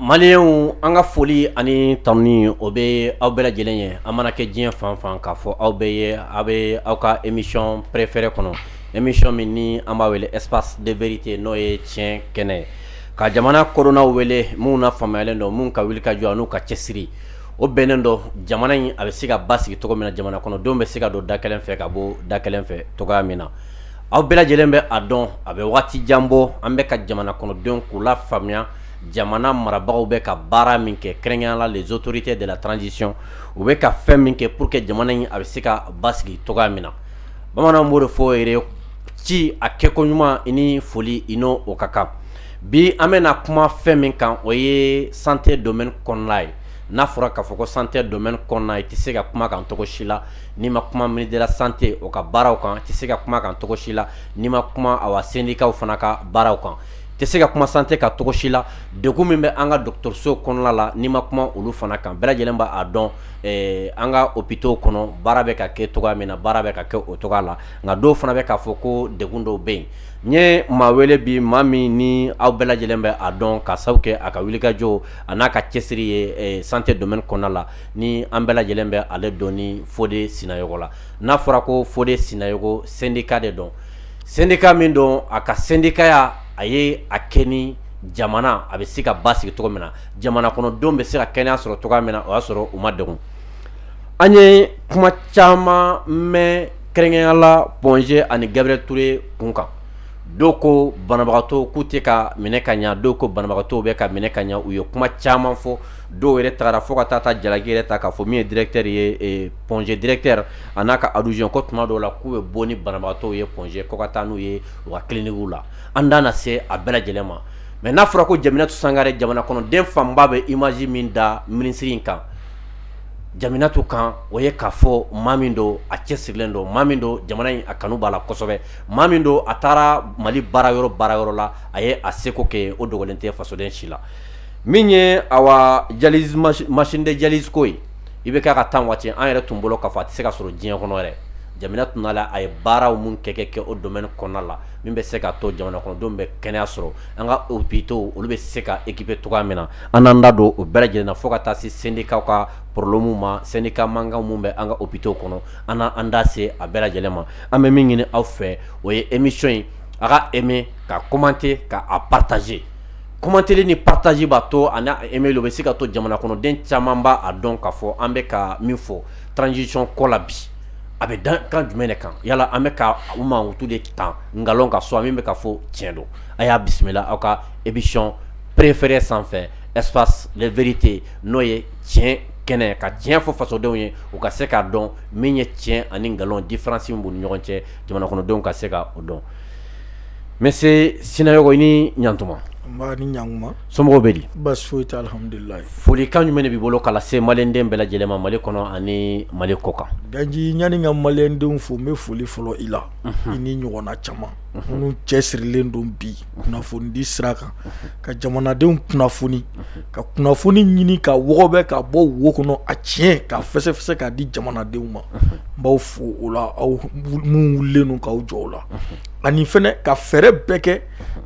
maliyɛnw an ka foli ani tanuni o bɛ aw bɛɛ lajɛlen ye an mana kɛ diɲɛ fan fan k'a fɔ aw bɛɛ ye aw bɛ aw ka émission préférée kɔnɔ émission min ni an b'a wele espace de vérité n'o ye tiɲɛ kɛnɛ ye ka jamana kodɔnnaw wele minnu na faamuyalen don minnu ka wuli ka jɔ n'u ka cɛsiri o bɛnnen don jamana in a bɛ se ka basigi cogo min na jamana kɔnɔdenw bɛ se ka don da kelen fɛ ka bɔ da kelen fɛ cogoya min na aw bɛɛ lajɛlen bɛ a dɔn a bɛ waati jan bɔ an bɛ ka jamana kɔnɔdenw k'u lafaamuya jamana marabagaw bɛ ka baara min kɛ kɛrɛnkɛrɛnnenya la les autorités de la transition u bɛ ka fɛn min kɛ pour que jamana in a bɛ se ka basigi cogoya min na bamananw b'o de fɔ yɛrɛ ci a kɛko ɲuman i ni foli i n'o o ka kan bi an bɛna kuma fɛn min kan o ye santé domaine kɔnɔna ye n'a fɔra k'a fɔ ko santé domaine kɔnɔna i tɛ se ka kuma kan cogo si la n'i ma kuma ministère de la santé o ka baaraw kan tɛ se ka kuma kan cogo si la n'i ma kuma a sendikaw fana ka baaraw kan tɛ se ka kuma santé kan cogo si la degun min bɛ an ka dɔgɔtɔrɔso kɔnɔna la n'i ma kuma olu fana kan bɛɛ lajɛlen b'a dɔn an ka hôpitaux kɔnɔ baara bɛ ka kɛ cogoya min na baara bɛ ka kɛ o cogoya la nka dɔw fana bɛ k'a fɔ ko degun dɔw bɛ yen n ye maa wele bi maa min ni aw bɛɛ lajɛlen bɛ a dɔn ka sababu kɛ a ka wulikajɔ a n'a ka cɛsiri ye santé domaine kɔnɔna la ni an bɛɛ lajɛlen bɛ ale dɔn ni fode sinayɔgɔ la n'a fɔra ko fode sinayɔgɔ sendika de don sendika min don a ka sendikaya a ye a kɛ ni jamana a bɛ se ka basigi cogo min na jamana kɔnɔdenw bɛ se ka kɛnɛya sɔrɔ cogoya min na o y'a sɔrɔ u ma degun an ye kuma caman mɛn kɛrɛnkɛrɛnnenya la point g ani gabriel touré kun kan dɔw ko banabagatɔw k'u tɛ ka minɛ ka ɲɛ dɔw ko banabagatɔw bɛ ka minɛ ka ɲɛ u ye kuma caman fɔ dɔw yɛrɛ taara fo ka taa jalaki yɛrɛ ta k'a fɔ min ye directeur ye point g directeur a n'a ka adjoint ko tuma dɔw la k'u bɛ bɔ ni banabaatɔw ye point g kɔnɔ ka taa n'u ye u ka clinique la an da na se a bɛɛ lajɛlen ma mais n'a fɔra ko jaminatu sangare jamana kɔnɔden fanba bɛ image min da minisiri in kan jaminatu kan o ye k'a fɔ maa min don a cɛsirilen don maa min don jamana in a kanu b'a la kosɛbɛ maa min don a taara mali baara yɔrɔ baara yɔrɔ la a ye a seko kɛ o dogolen tɛ fasoden si la min ye awa dialyse machine de dialyse ko ye IBK ka temps waati an yɛrɛ tun bolo k'a fɔ a tɛ se ka sɔrɔ diɲɛ kɔnɔ yɛrɛ jaminatu nala a ye baaraw min kɛ kɛ kɛ o domaine kɔnɔna la min bɛ se ka to jamana kɔnɔdenw bɛ kɛnɛya sɔrɔ an ka hôpitaux olu bɛ se ka équiper cogoya min na an n'an da don o bɛɛ lajɛlen na fo ka taa se syndicatw ka problème ma syndicat mankanw min bɛ an ka hôpitaux kɔnɔ an n'an da se a bɛɛ lajɛlen ma an bɛ min ɲini aw fɛ o ye émission in a k'a aimer k'a commenter k'a partager commenter ni partager b'a to ani aimer o bɛ se ka to jamana kɔnɔden caman b'a dɔn k'a fɔ an bɛ ka min fɔ transition ko la bi a bɛ dan kan jumɛn de kan yala an bɛ ka u mankutu de tan nkalon ka so min bɛ ka fɔ tiɲɛ don a y'a bisimila aw ka émission préférée sanfɛ espace de vérité n'o ye tiɲɛ kɛnɛ ka tiɲɛ fɔ fasodenw ye u ka se k'a dɔn min ye tiɲɛ ani nkalon différence min b'u ni ɲɔgɔn cɛ jamana kɔnɔdenw ka se ka o dɔn monsieur sinayogo i ni ɲantuma nba i ni ɲankuma somɔgɔw bɛ di baasi foyi tɛ alihamudulilayi folikan jumɛn b'i bolo k'a lase maliyɛnden bɛɛ lajɛlen ma mali kɔnɔ ani mali kɔ kan ganji ɲani n ka maliyɛndenw fo n bɛ foli fɔlɔ i la i ni ɲɔgɔnna caman minnu cɛ sirilen don bi kunnafonidi sira kan ka jamanadenw kunnafoni ka kunnafoni ɲini k'a wɔgɔbɛ ka bɔ wo kɔnɔ a tiɲɛ ka fɛsɛfɛsɛ k'a di jamanadenw ma n b'aw fo o la aw minnu wulilen don k'aw jɔ o la ani fana ka fɛɛrɛ bɛɛ kɛ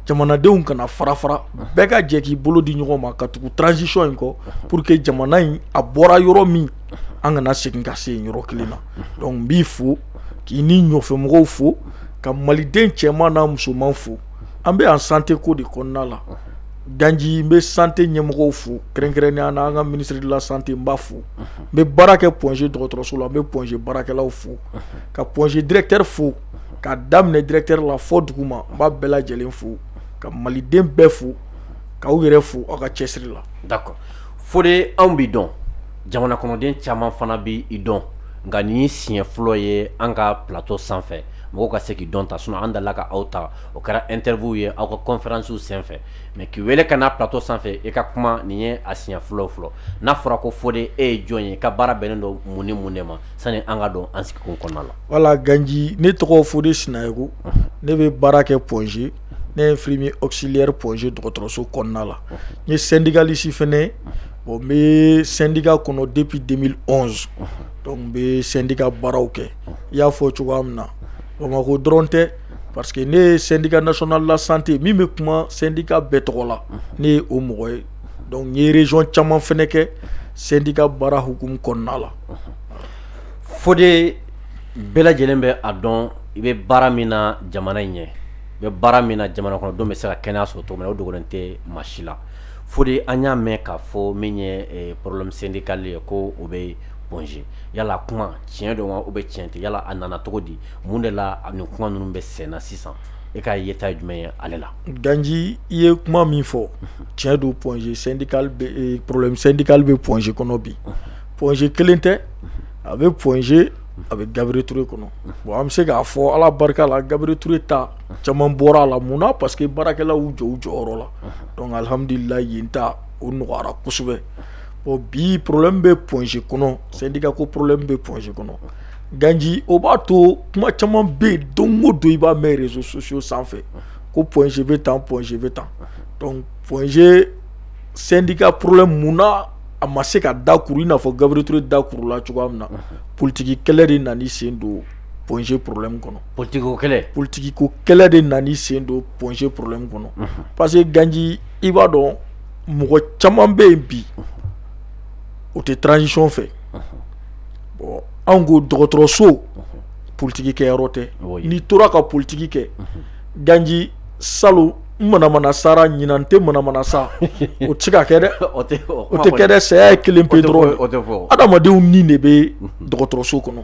jamanadenw kana fara fara bɛɛ ka jɛ k'i bolo di ɲɔgɔn ma ka tugu transition in kɔ pour que jamana in a bɔra yɔrɔ min an kana segin ka se yɔrɔ kelen na donc n b'i fo k'i ni ɲɔfɛmɔgɔw fo ka maliden cɛman n'a musoman fo an bɛ yan santé ko de kɔnɔna la ganji n bɛ santé ɲɛmɔgɔw fo kɛrɛnkɛrɛnnenya na an ka ministre de la santé n b'a fo n bɛ baara kɛ point g dɔgɔtɔrɔso la n bɛ point g baarakɛlaw fo ka point g directeur fo k'a daminɛ directeur la fo duguma n b'a bɛɛ lajɛlen fo ka maliden bɛɛ fo ka aw yɛrɛ fo aw ka cɛsiri la d'accord fode anw b'i dɔn jamana kɔnɔden caman fana bɛ i dɔn nka nin y'i siɲɛ fɔlɔ ye an ka plateau sanfɛ mɔgɔw ka se k'i dɔn ta sinon an delila ka aw ta o kɛra interview ye aw ka conférencew senfɛ mais k'i weele ka na plateau sanfɛ e ka kuma nin ye a siɲɛ fɔlɔ fɔlɔ n'a fɔra ko fode e ye jɔn ye i ka baara bɛnnen don mun ni mun de ma sani an ka don an sigikun kɔnɔna la voilà ganji ne tɔgɔ fode sinayogo ne bɛ baara kɛ point g ne ye infirmier auxiliaire point g dɔgɔtɔrɔso kɔnɔna la n ye syndicaliste fana bon n bɛ syndicat kɔnɔ depuis deux mille onze donc n bɛ syndicat baaraw kɛ i y'a fɔ cogoya min na bamakɔ dɔrɔn tɛ parce que ne ye syndicat national de la santé min bɛ kuma syndicat bɛɛ tɔgɔ la ne ye o mɔgɔ ye donc n ye région caman fana kɛ syndicat baara hukumu kɔnɔna la fode bɛɛ lajɛlen bɛ a dɔn i bɛ baara min na jamana in ɲɛ i bɛ baara min na jamana kɔnɔdenw bɛ se ka kɛnɛya sɔrɔ cogo min o dogolen tɛ maa si la fode an y'a mɛn k'a fɔ min ye problème syndical ye ko o bɛ yen Point-G yala kuma tiɲɛ don wa ou bien tiɲɛ tɛ yala a nana cogo di mun de la nin kuma ninnu bɛ senna sisan e ka yeta jumɛn ye ale la ganji i ye kuma min fɔ tiɲɛ don Point-G syndical bɛ problème syndical bɛ Point-G kɔnɔ bi Point-G kelen tɛ a bɛ Point-G a bɛ Gabriel Touré kɔnɔ bon an bɛ se k'a fɔ ala barika la Gabriel Touré ta caman bɔra a la mun na parce que baarakɛlaw y'u jɔ u jɔyɔrɔ la donc alhamdulillah yen ta o nɔgɔyara kosɛbɛ Bon bi problème bɛ Point-G kɔnɔ, syndicat ko problème bɛ Point-G kɔnɔ, Ganji o b'a to kuma caman bɛ yen don o don i b'a mɛn réseaux sociaux sanfɛ ko Point-G bɛ tan Point-G bɛ tan donc Point-G syndicat problème munna a ma se ka dakuru i n'a fɔ Gabriel Touré dakurula cogoya min na politique kɛlɛ de nana i sen don Point-G problème kɔnɔ, politique ko kɛlɛ de nana i sen don Point-G problème kɔnɔ parce que Ganji i b'a dɔn mɔgɔ caman bɛ yen bi o tɛ transition fɛ bon anw ko dɔgɔtɔrɔso politigi kɛyɔrɔ tɛ n'i tora ka politigi kɛ ganji salon n manamana sara ɲinan n tɛ manamana sa o tɛ se ka kɛ dɛ o tɛ kɛ dɛ saya ye kelen pe dɔrɔn adamadenw ni de bɛ dɔgɔtɔrɔso kɔnɔ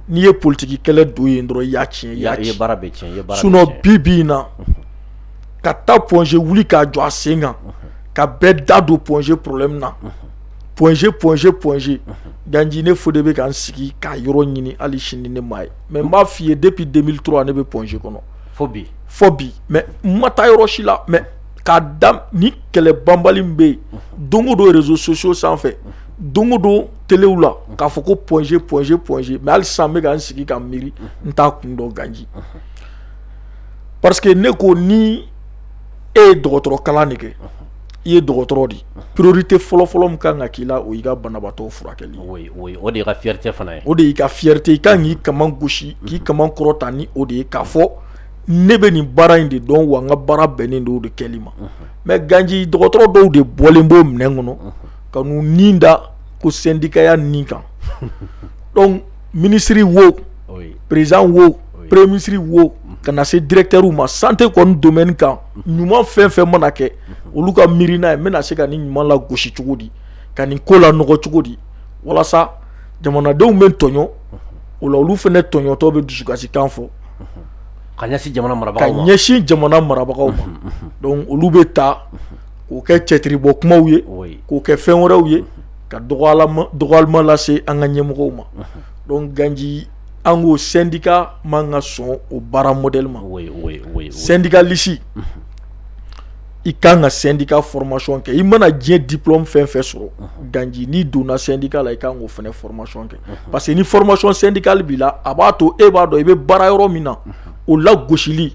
n'i ye politigi kɛlɛ don yen dɔrɔn i y'a tiɲɛ i ye baara bɛɛ tiɲɛ sinon bi bi na ka taa Point-G wuli k'a jɔ a sen kan ka bɛɛ da don Point-G problème na Point-G Point-G Point-G ganji ne fo de bɛ ka n sigi k'a yɔrɔ ɲini hali sini ne m'a ye mais n b'a f'i ye depuis deux mille trois ne bɛ Point-G kɔnɔ fo bi mais n ma taa yɔrɔ si la mais k'a da nin kɛlɛ banbali min bɛ yen don o don réseaux sociaux sanfɛ don o don telew la k'a fɔ ko Point-G Point-G Point-G mais hali sa n bɛ ka n sigi ka n miiri n t'a kun dɔn ganji parce que ne ko ni e ye dɔgɔtɔrɔ kalan de kɛ i ye dɔgɔtɔrɔ di priorité fɔlɔfɔlɔ min kan ka k'i la o y'i ka banabagatɔ furakɛli o de y'i ka fierté fana ye o de y'i ka fierté i ka kan k'i kaman gosi k'i kaman kɔrɔta ni o de ye k'a fɔ ne bɛ nin baara in de dɔn wa n ka baara bɛnnen don o de kɛli ma mais ganji dɔgɔtɔrɔ dɔw de bɔlen b'o minɛn kɔnɔ ka n'u ni da ko sendikaya nin kan ministre wo président wo premier ministre wo ka na se directeurw ma santé kɔni domaine kan ɲuman fɛn fɛn mana kɛ olu ka miirina ye n bɛna se ka nin ɲuman lagosi cogo di ka nin ko lanɔgɔ cogo di walasa jamanadenw bɛ tɔɲɔ o la olu fana tɔɲɔtɔ bɛ dusukasikan fɔ ka ɲɛsin jamana marabagaw ma donc olu bɛ taa k'o kɛ cɛtiribɔ kumaw ye k'o kɛ fɛn wɛrɛw ye ka dɔgɔyalima lase an ka ɲɛmɔgɔw ma donc ganji an ko sendika man ka sɔn o baara modèle ma sendikalisi i ka kan ka sendika formation kɛ i mana diɲɛ diplôme fɛn fɛn sɔrɔ ganji n'i donna sendika la i ka kan k'o fana formation kɛ parce que ni formation syndicale b'i la a b'a to e b'a dɔn i bɛ baara yɔrɔ min na o lagosili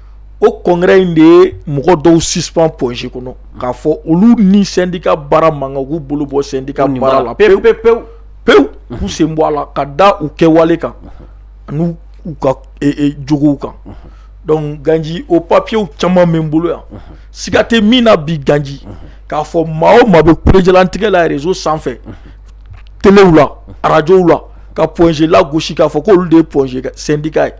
o congrès in de ye mɔgɔ dɔw suspend Point G kɔnɔ k'a fɔ olu ni sendika baara man kan k'u bolo bɔ sendika baara la pewu k'u sen bɔ a la ka da u kɛwale kan ani u ka jogow kan donc ganji o papiye caman bɛ n bolo yan siga tɛ min na bi ganji k'a fɔ maa o maa bɛ kulejalantigɛ la réseau sanfɛ telew la arajow la ka Point G lagosi k'a fɔ k' olu de ye Point G sendika ye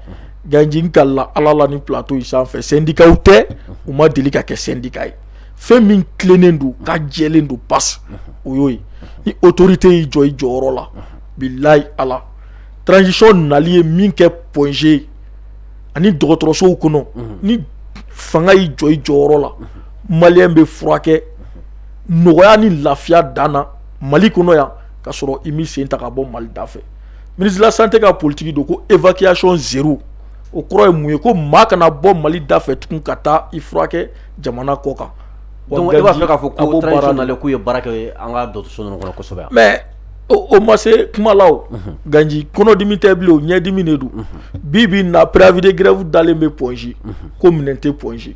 Ganji n kalila ala la nin plateau in sanfɛ sendikaw tɛ u ma deli ka kɛ sendika ye fɛn min tilennen don ka jɛlen don pa o y'o ye ni autorité y'i jɔ i jɔyɔrɔ la bilayi ala transition nali ye min kɛ Point G ani dɔgɔtɔrɔsow kɔnɔ ni fanga y'i jɔ i jɔyɔrɔ la maliyɛn bɛ furakɛ nɔgɔya ni lafiya dan na mali kɔnɔ yan ka sɔrɔ i m'i sen ta ka bɔ mali da fɛ minisla san tɛ ka politigi don ko efiyason z o kɔrɔ ye mun ye ko maa kana bɔ mali da fɛ tun ka taa i furakɛ jamana kɔ kan b'a fɛ k'a fɔ ko ye baara ye an ka kɔnɔsɛbɛ mɛ o ma se kumala ganji kɔnɔdimi tɛ bilen o ɲɛdimi de don bi bi na pɛrabid gɛrɛw dalen bɛ pɔsi ko minɛn tɛ pɔsi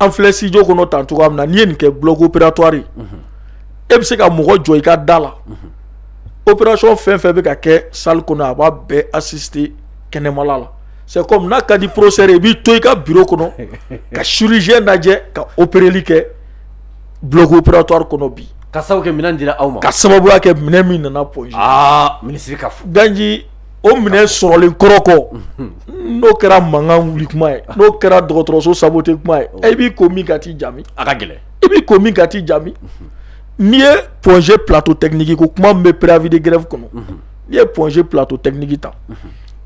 an filɛ studio kɔnɔ tan cogoya min na n'i ye nin kɛ bloc opératoire ye e bɛ se ka mɔgɔ jɔ i ka da la o opération fɛn fɛn bɛ ka kɛ salle kɔnɔ a b'a bɛɛ assister kɛnɛmala la c'est comme n'a ka di professeur i b'i to i ka biro kɔnɔ ka chirurgien lajɛ ka opereli kɛ bloc opératoire kɔnɔ bi ka sababu kɛ minɛn dira aw ma ka sababuya kɛ minɛn min nana Point G minisiri ka fɔ ganji o minɛn sɔrɔlen kɔrɔ kɔ n'o kɛra mankan wuli kuma ye n'o kɛra dɔgɔtɔrɔso saboter kuma ye e b'i ko min ka t'i jami a ka gɛlɛn i b'i ko min ka t'i jami n'i ye Point G plateau technique ko kuma min bɛ préavis de grève kɔnɔ n'i ye Point G plateau technique ta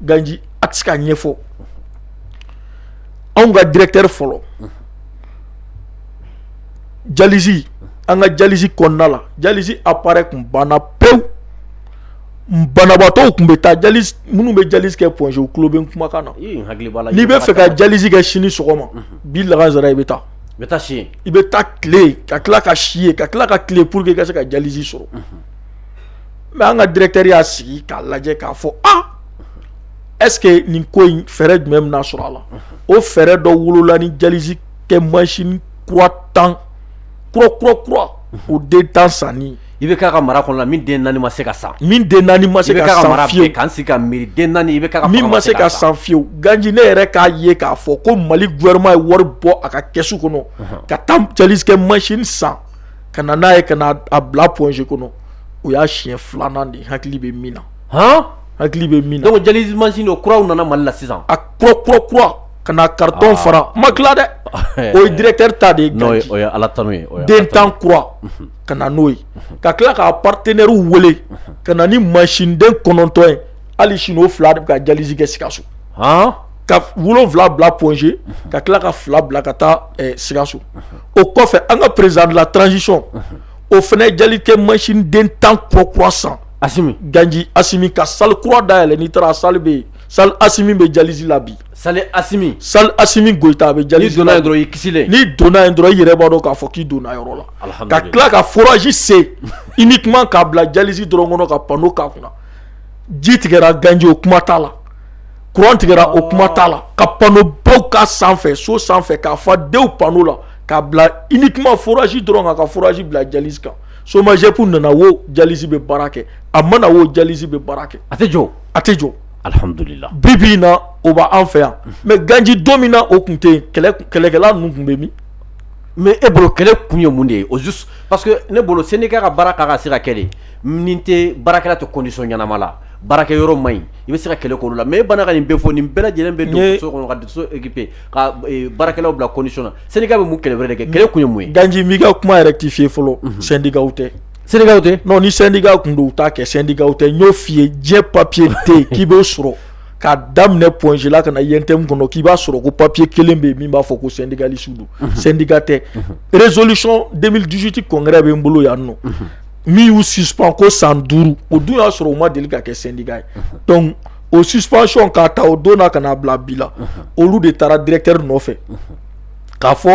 ganji a tɛ se ka ɲɛfɔ anw ka directeur fɔlɔ dialyse an ka dialyse kɔnɔna la dialyse appareil tun banna pewu banabaatɔw tun bɛ taa dialyse minnu bɛ dialyse kɛ Point-G i tulo bɛ n kumakan na n'i b'a fɛ ka dialyse kɛ sini sɔgɔma bi lansara i bɛ taa i bɛ si i bɛ taa tile ka tila ka si yen ka tila ka tile pour que i ka se ka dialyse sɔrɔ mais an ka directeur y'a sigi k'a lajɛ k'a fɔ aa est-ce que nin ko in fɛɛrɛ jumɛn bɛna sɔrɔ a la o fɛɛrɛ dɔ wolola ni dialyse kɛ machine kura tan kura kura kura o den tan sanni IBK ka mara kɔnɔ min den naani ma se ka san min den naani ma se ka san fiyewu k'an sigi ka miiri den naani IBK ka min ma se ka san fiyewu Ganji ne yɛrɛ k'a ye k'a fɔ ko Mali gouvernement ye wari bɔ a ka kɛsu kɔnɔ ka taa dialyse kɛ machine san ka na n'a ye ka na a bila Point-G kɔnɔ o y'a siɲɛ filanan de hakili bɛ min na hɔn hakili bɛ min na dialyse machine den kuraw nana Mali la sisan a kura kura kura ka na carton fara ma tila dɛ o ye directeur ta de ye Ala tanu den tan kura ka na n'o ye ka tila k'a partenaires wele ka na ni mansiniden kɔnɔntɔn ye hali sini o fila de bɛ ka dialyse kɛ Sikaso ka wolonwula bila Point-G ka tila ka fila bila ka taa Sikaso o kɔfɛ an ka président de la transition o fana ye dialyse kɛ mansiniden tan kura kura san Asimi Ganji Asimi ka salle kura dayɛlɛ n'i taara a salle bɛ yen salle Asimi bɛ dialyse la bi Salle Asimi salle Asimi Goyita a bɛ dialyse la n'i donna yen dɔrɔn i kisilen n'i donna yen dɔrɔn i yɛrɛ b'a dɔn k'a fɔ k'i donna yɔrɔ la ka tila ka forage sen uniquement k'a bila dialyse dɔrɔn kɔnɔ ka panneau k'a kunna ji tigɛra Ganji o kuma t'a la kuran tigɛra o kuma t'a la ka panneau baw k'a sanfɛ so sanfɛ k'a fa dewu panneau la k'a bila uniquement forage dɔrɔn ka forage bila dialyse kan SOMAGEP nana wo dialyse bɛ baara kɛ a ma na wo dialyse bɛ baara kɛ a tɛ jɔ a tɛ jɔ Alihamdulila bi bi in na o b' an fɛ yan mais Ganji don min na o tun tɛ kɛlɛkɛla ninnu tun bɛ min mais e bolo kɛlɛ kun ye mun de ye au juste parce que ne bolo sendika ka baara kan ka se ka kɛ de nin tɛ baarakɛla tɛ condition ɲɛnama la baarakɛ yɔrɔ man ɲi i bɛ se ka kɛlɛ k'olu la mais e bana ka nin bɛɛ fɔ nin bɛɛ lajɛlen bɛ dɔgɔtɔrɔso kɔnɔ ka dɔgɔtɔrɔso équipé ka baarakɛlaw bila condition na sendika bɛ mun kɛlɛ wɛrɛ de kɛ kɛlɛ kun ye mun ye Ganji n b'i ka kuma rectifier fɔlɔ sendikaw tɛ Sendikaw tɛ non ni sendika tun don u t'a kɛ sendika tɛ n y'o f'i ye diɲɛ papier tɛ yen k'i b'o sɔrɔ k'a daminɛ Point-G la ka na UNTM kɔnɔ k'i b'a sɔrɔ ko papier kelen bɛ yen min b'a fɔ ko sendikalistes don sendika tɛ résolution 2018 congrès bɛ n bolo yan nɔ min y'u suspend ko san duuru o dun y'a sɔrɔ u ma deli ka kɛ sendika ye donc o suspension k'a ta o don na ka n'a bila bi la olu de taara directeur nɔfɛ k'a fɔ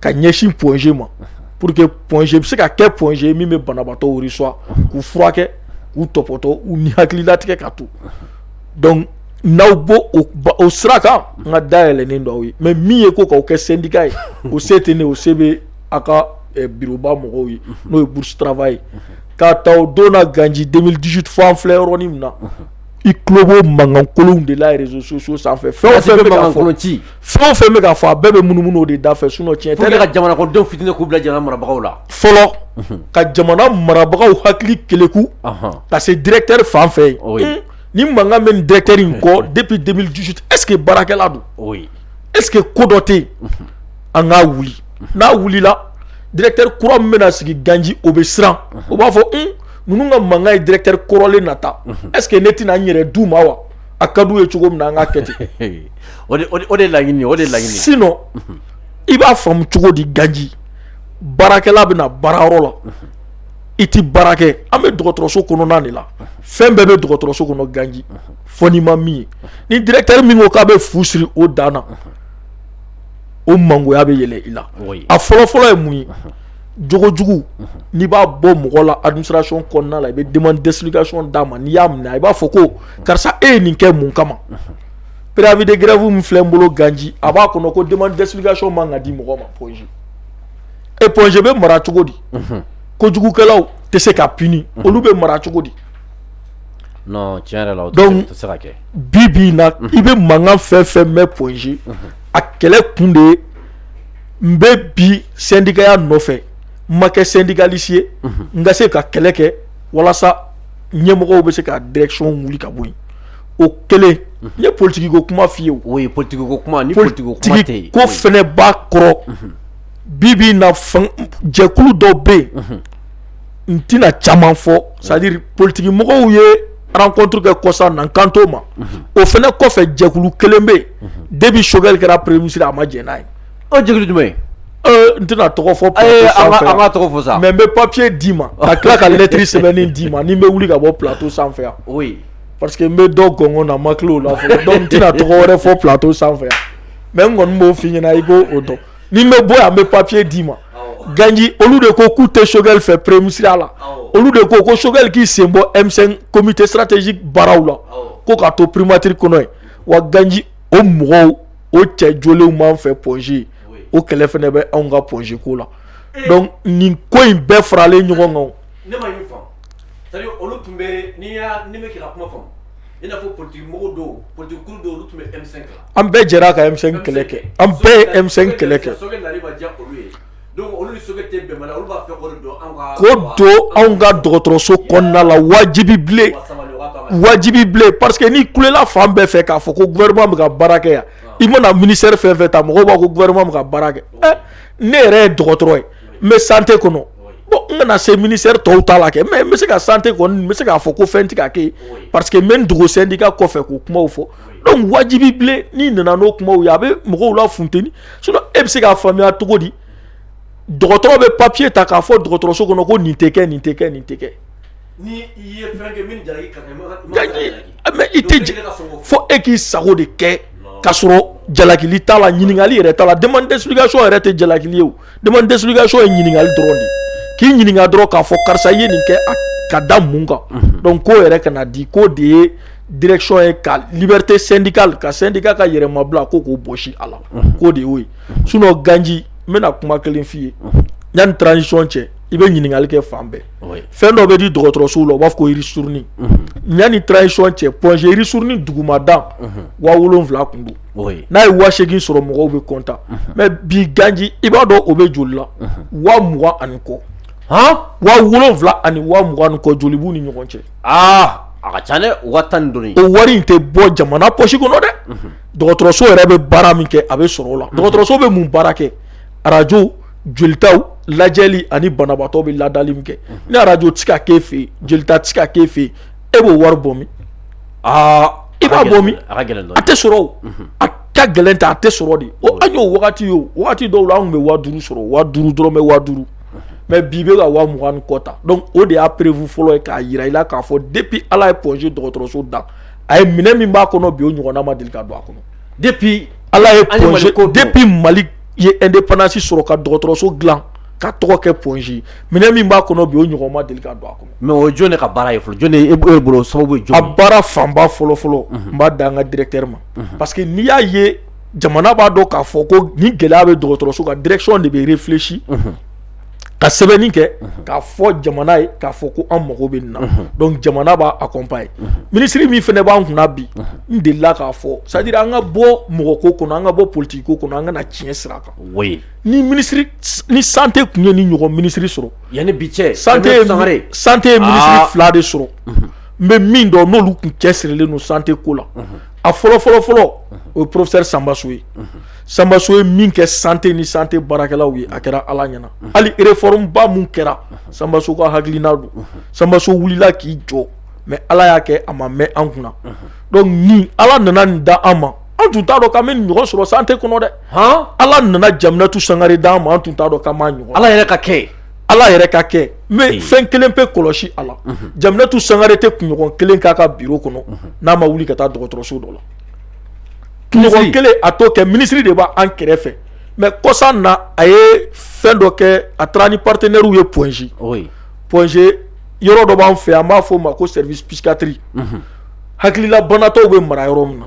ka ɲɛsin Point G ma pour que Point G bɛ se ka kɛ Point G min bɛ banabaatɔw reçoit k'u furakɛ k'u tɔpɔtɔ u ni hakili latigɛ ka to donc n'aw b'o sira kan n ka da yɛlɛlen don aw ye mais min ye ko k'aw kɛ syndicat ye o se tɛ ne o se bɛ aw ka bureauba mɔgɔw ye n'o ye bourse travail ye k'a ta o don na ganji 2018 fo an filɛ yɔrɔ min na i kulo b'o mankankolonw de la réseaux sociaux sanfɛ fɛn fɛn bɛ ci fɛn o fɛn bɛ ka fɔ a bɛɛ bɛ munumunu o de da fɛ sinon tiɲɛ tɛ dɛ, ka jamanadenw fitini k'u bila jamana marabagaw la fɔlɔ mhm. ka jamana marabagaw hakili keleku ka se directeur fan fɛ yen oh hmm. ni mankan bɛ nin directeur in kɔ mhm. depuis 2018 est ce que baarakɛla don oh est ce que ko dɔ tɛ yen mhm. an k'a wuli n'a wulila directeur kura min bɛna sigi ganji o bɛ siran o b'a fɔ un hmm, ninnu ka mankan ye directeur kɔrɔlen nata est ce que ne tɛna n yɛrɛ d'u ma wa a ka d'u ye cogo min na an k'a kɛ ten o de laɲini o de laɲini sinon i b'a faamu cogo di ganji baarakɛla bɛ na baarayɔrɔ la i tɛ baara kɛ an bɛ dɔgɔtɔrɔso kɔnɔna de la fɛn bɛɛ bɛ dɔgɔtɔrɔso kɔnɔ ganji fo n'i ma min ye ni directeur min ko k'a bɛ fu siri o dan na o mangoya bɛ yɛlɛ i la a fɔlɔfɔlɔ ye mun ye jogojugu n'i b'a bɔ mɔgɔ la administration kɔnɔna la i bɛ demande d'explication d'a ma n'i y'a minɛ i b'a fɔ ko karisa e ye nin kɛ mun kama préavis de grève min filɛ n bolo ganji a b'a kɔnɔ ko demande d'explication man ka di mɔgɔ ma Point G e Point G bɛ mara cogo di kojugukɛlaw tɛ se ka puni olu bɛ mara cogo di donc bi bi na i bɛ mankan fɛn fɛn mɛn Point G a kɛlɛ kun de ye n bɛ bi sendikaya nɔfɛ n ma kɛ syndicaliste ye n ka se ka kɛlɛ kɛ walasa ɲɛmɔgɔw bɛ se ka direction wuli ka bɔ yen o kɛlen n ye politigi ko kuma f'i ye o oui politigi ko kuma ni politigi ko fɛnɛ b'a kɔrɔ bi bi na jɛkulu dɔw bɛ yen n tɛna caman fɔ c'est à dire politigi mɔgɔw ye rencontre kɛ kɔsa na n kan t'o ma o fɛnɛ kɔfɛ jɛkulu kelen bɛ yen depuis Choguel kɛra premier ministre a ma jɛn n'a ye O jɛkulu jumɛn n tɛna tɔgɔ fɔ an ka tɔgɔ fɔ sa mais n bɛ papier d'i ma ka tila ka lettre sɛbɛnnen d'i ma ni n bɛ wuli ka bɔ plateau sanfɛ yan o parce que n bɛ dɔ gɔngɔn na n ma tila o la donc n tɛna tɔgɔ wɛrɛ fɔ plateau sanfɛ yan mais n kɔni b'o f'i ɲɛna i k'o dɔn ni n bɛ bɔ yan n bɛ papier d'i ma ganji olu de ko k'u tɛ Choguel fɛ premier ministre la olu de ko ko Choguel k'i sen bɔ M5 comité stratégique baaraw la ko k'a to primature kɔnɔ yen wa ganji o mɔgɔw o cɛ joliw b'an fɛ pɔsi o kɛlɛ fana bɛ anw ka pɔsi ko la nin ko in bɛɛ faralen ɲɔgɔn kan ne ma fa olu tun bɛ n'i bɛ kuma fɔ i n'a fɔ pti mɔgɔw don pti don tun bɛ an bɛɛ jɛra kami kɛlɛ kɛ an bɛɛ ye kɛlɛ kɛ anw ka dɔgɔtɔrɔso la wajibi wajibi ni kula fan bɛɛ fɛ k'a fɔ ko ka baara kɛ yan i mana mini fɛn fɛ ta mɔgɔ b'a koɛ ka baara kɛ ne yɛrɛ ye dɔgɔtɔrɔ ye n bɛ sante kɔnɔ n bɛna se mini tɔw ta la kɛ mɛ n bɛ se ka sante bɛ se k'a fɔ ko fɛn tigɛ kɛ pa que n bɛ dugusen' ka kɔfɛ k'o kuma fɔ dɔnku wajibi bilen n'i nana n'o kumaw ye a bɛ mɔgɔw lafunteni sinon e bɛ se k'a faamuya cogo di dɔgɔtɔrɔ bɛ papiye ta k'a fɔ dɔgɔtɔrɔso kɔnɔ ko nin tɛ kɛ nin tɛ kɛ nin tɛ kɛ i tɛ fo e k'i sago de kɛ k'a sɔrɔ jalakili t'a la ɲininkakali yɛrɛ t'a la demande d'explication yɛrɛ tɛ jalakili ye Demande d'explication ye ɲininkali dɔrɔn de ye, k'i ɲininka dɔrɔn k'a fɔ karisa i ye nin kɛ ka da mun kan, unhun, donc k'o yɛrɛ kana di k'o de ye direction ye ka liberté syndicale ka syndicat ka yɛrɛmabila ko k'o bɔsi a la, unhun, k'o de y'o ye sinon ganji n bɛna kuma kelen f'i ye, unhun, yanni transition cɛ i bɛ ɲininkali kɛ fan bɛɛ, oui, fɛn dɔ bɛ di dɔgɔtɔrɔsow la u b'a fɔ ko ristourne, unhun, yanni transition cɛ Point G ristourne dugumadan, unhun, waa wolonwula tun don n'a ye waa segin sɔrɔ mɔgɔw bɛ kɔntan mɛ bi ganji i b'a dɔn o bɛ joli la waa mugan ani kɔ waa wolonwula ani waa mugan ani kɔ joli b'u ni ɲɔgɔn cɛ aa a ka ca dɛ waa tan ni dɔ o wari in tɛ bɔ jamana pɔsi kɔnɔ dɛ dɔgɔtɔrɔso yɛrɛ bɛ baara min kɛ a bɛ sɔrɔ o la dɔgɔtɔrɔso bɛ mun baara kɛ arajo jolitaw lajɛli ani banabaatɔ bɛ ladali min kɛ ni arajo tɛ ka k'e fɛ yen jolita tɛ ka k'e fɛ yen e b'o wari bɔ min aa i b'a bɔ min a tɛ sɔrɔ a ka gɛlɛn tɛ a tɛ sɔrɔ de o an y'o wagati ye o wagati dɔw la anw tun bɛ waa duuru sɔrɔ waa duuru dɔrɔn bɛ waa duuru mɛ bi bɛ ka waa mugan ni kɔ ta dɔnku o de y'a preuve fɔlɔ ye k'a jira i la k'a fɔ depi ala ye Point G dɔgɔtɔrɔso dan a ye minɛ min b'a kɔnɔ bi o ɲɔgɔnna ma deli ka don a kɔnɔ depi ala ye depi mali ye indépendance sɔrɔ ka dɔgɔtɔrɔso dilan ka tɔgɔ kɛ Point G minɛ min b'a kɔnɔ bi o ɲɔgɔnna ma deli ka don a kɔnɔ Mɛ o jɔn de ka baara ye fɔlɔ jɔn de bolo sababu ye jɔn ye a baara fanba fɔlɔfɔlɔ n b'a da an ka directeur ma parce que n'i y'a ye jamana b'a dɔn k'a fɔ ko ni gɛlɛya bɛ dɔgɔtɔrɔso ka direction de bɛ réfléchir ka sɛbɛnni kɛ k'a fɔ jamana ye k'a fɔ ko an mago bɛ nin na dɔnku jamana b'a accompagner minisiri min fana b'an kunna bi n delila k'a fɔ c'est-à-dire an ka bɔ mɔgɔ ko kɔnɔ an ka bɔ politigi ko kɔnɔ an ka na tiɲɛ sira kan ni minisiri ni sante tun ye nin ɲɔgɔn minisiri sɔrɔ Yan ni bi cɛ sante ye minisiri fila de sɔrɔ n bɛ min dɔn n'olu kun cɛ sirilen don sante ko la a fɔlɔ fɔlɔ fɔlɔ o ye porofɛsɛri sanba so ye sanba so ye min kɛ sante ni sante baarakɛlaw ye a kɛra ala ɲɛna hali réforme ba min kɛra sanba so ka hakilina don sanba so wulila k'i jɔ mɛ ala y'a kɛ a ma mɛn an kunna donc ni ala nana nin da an ma an tun t'a dɔn k'an bɛ nin ɲɔgɔn sɔrɔ sante kɔnɔ dɛ hɔn ala nana jaminatu sangare d'an ma an tun t'a dɔn k'an b'a ɲɔgɔn ala yɛrɛ ka kɛ ala yɛrɛ ka kɛ mɛ fɛn kelen pe kɔlɔsi a la jaminatu sangare tɛ kunɲɔgɔn kelen k'a ka biro kɔnɔ n'a ma wuli ka taa dɔgɔtɔrɔso dɔ la kunɲɔgɔn kelen a t'o kɛ minisiri de b'an kɛrɛfɛ mɛ kɔsan na a ye fɛn dɔ kɛ a taara ni partenaires ye pɔnze pɔnze yɔrɔ dɔ b'an fɛ an b'a fɔ o ma ko service psychiatrie hakilila banatɔw bɛ mara yɔrɔ min na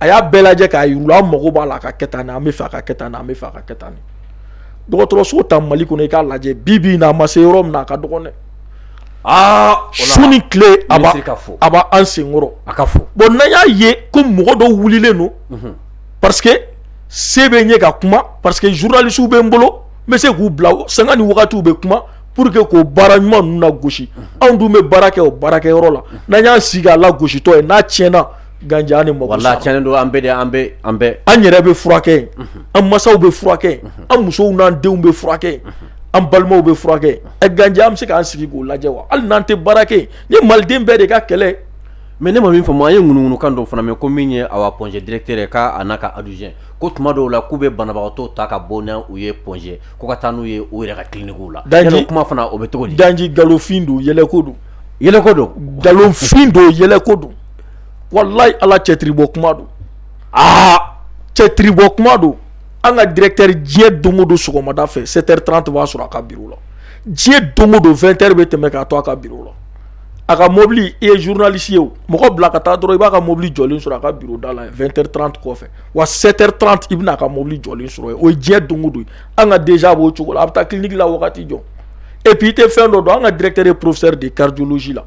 a y'a bɛɛ lajɛ k'a yira an mago b'a la a ka kɛ tan an b'a fɛ a ka kɛ tan an b'a fɛ a ka kɛ tan dɔgɔtɔrɔso ta mali kɔnɔ i k'a lajɛ bi bi na a ma se yɔrɔ min a ka dɔgɔn dɛ aa su ni tile a a b'an senkɔrɔ a ka fɔ bon n'an y'a ye ko mɔgɔ dɔ wulilen don parce que se bɛ n ye ka kuma parce que zurunalisiw bɛ n bolo n bɛ se k'u bila sanga ni wagatiw bɛ kuma pour que k'o baara ɲuman ninnu lagosi anw dun bɛ baara kɛ o baarakɛyɔrɔ la n'an y'an sigi a lagositɔ ye n'a tiɲɛna Ganji an ni mɔgɔ la cɛnnen don an bɛ an bɛ an bɛɛ an yɛrɛ bɛ furakɛ an masaw bɛ furakɛ an musow n'an denw bɛ furakɛ an balimaw bɛ furakɛ ɛ ganji an bɛ se k'an sigi k'o lajɛ wa hali n'an tɛ baara kɛ ni maliden bɛɛ de ka kɛlɛ mɛ ne ma min faamu an ye ŋunuŋunukan dɔ fana mɛn ko min ye awa pɔnze directeur ye k'a n'a ka adjoint ko tuma dɔw la k'u bɛ banabagatɔ ta ka bɔ n'u ye pɔnze ko ka taa n'u ye u yɛrɛ ka kilinikiw la dan kuma fana o bɛ cogo di ganji nkalonfin don yɛlɛko don yɛlɛko don nkalonfin don yɛlɛko don walayi ala cɛtiri bɔ kuma don aa cɛtiri bɔ kuma don an ka directeur diɲɛ don o don sɔgɔmada fɛ sept heures trente b'a sɔrɔ a ka biro la diɲɛ don o don vingt heures bɛ tɛmɛ k'a to a ka biro la a ka mobili i ye zurunalisi ye mɔgɔ bila ka taa dɔrɔn i b'a ka mobili jɔlen sɔrɔ a ka biro da la vingt heures trente kɔfɛ wa sept heures trente i bɛna a ka mobili jɔlen sɔrɔ yen o ye diɲɛ don o don an ka déjà b'o cogo la a bɛ taa kiliniki la wagati jɔn epi i tɛ fɛn dɔ dɔn an ka directeur ye porofɛsɛri de ye cardiologie la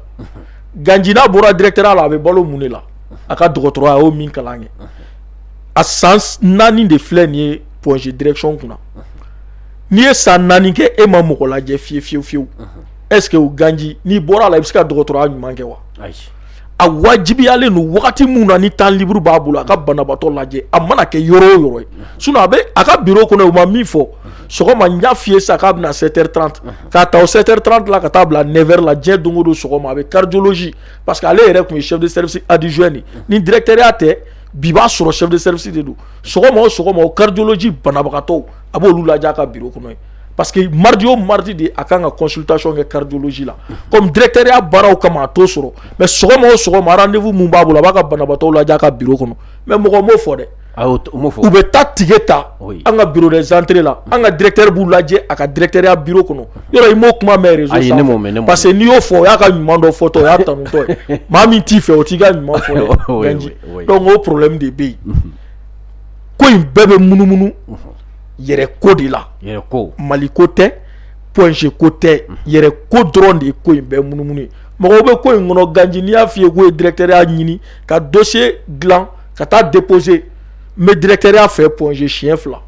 Ganji n'a bɔra directeurya la a bɛ balo mun de la a ka dɔgɔtɔrɔya a y'o min kalan kɛ a san naani de filɛ nin ye pɔnze direction kunna n'i ye san naani kɛ e ma mɔgɔ lajɛ fiye fiye fiyewu est-ce que o ganji n'i bɔra a la i bɛ se ka dɔgɔtɔrɔya ɲuman kɛ wa a wajibiyalen don wagati min na ni temps libre b'a bolo a ka banabatɔ lajɛ a mana kɛ yɔrɔ o yɔrɔ ye sinon a bɛ a ka biro kɔnɔ u ma min fɔ sɔgɔma n y'a fɔ i ye sa k'a bɛ na sept heures trente K'a ta sɛteri tanranti ka taa bila nɛɛrɛ la diɲɛ don don sɔgɔma a bɛ karijolosi pa que ale yɛrɛ tun ye sɛsɛrisi adizy nin ni dtereya tɛ bi b'a sɔrɔ sɛsɛrisi de don sɔgɔma o sɔgɔma o karijoloji banabagatɔ a b'olu la ka bi kɔnɔ ye pa que maridi o maridi de a kan ka kɔsitayɔn kɛ kariduluji la kɔmi dtereya baaraw kama a to sɔrɔ mɛ sɔgɔma o sɔgɔma ninfu min b'a bolo a b'a ka banabagatɔ la ka bi kɔnɔ mɛ mɔgɔ b'o fɔ dɛ U bɛ taa ticket ta an ka bureau des entrées la an ka directeur b'u lajɛ a ka directeurya bureau kɔnɔ yɔrɔ i m'o kuma mɛn parce que n'i y'o fɔ o y'a ka ɲuman dɔ fɔtɔ o y'a tanutɔ ye maa min t'i fɛ o t'i ka ɲuman fɔ ganji donc o problème de bɛ yen ko in bɛɛ bɛ munumunu yɛrɛ ko de la mali ko tɛ Point G ko tɛ yɛrɛ ko dɔrɔn de ye ko in bɛɛ munumunu ye mɔgɔw bɛ ko in kɔnɔ ganji ne y'a f'i ye k'u ye directeurya ɲini ka dossier dilan ka taa déposer n bɛ directeurya fɛ Point G siɲɛ fila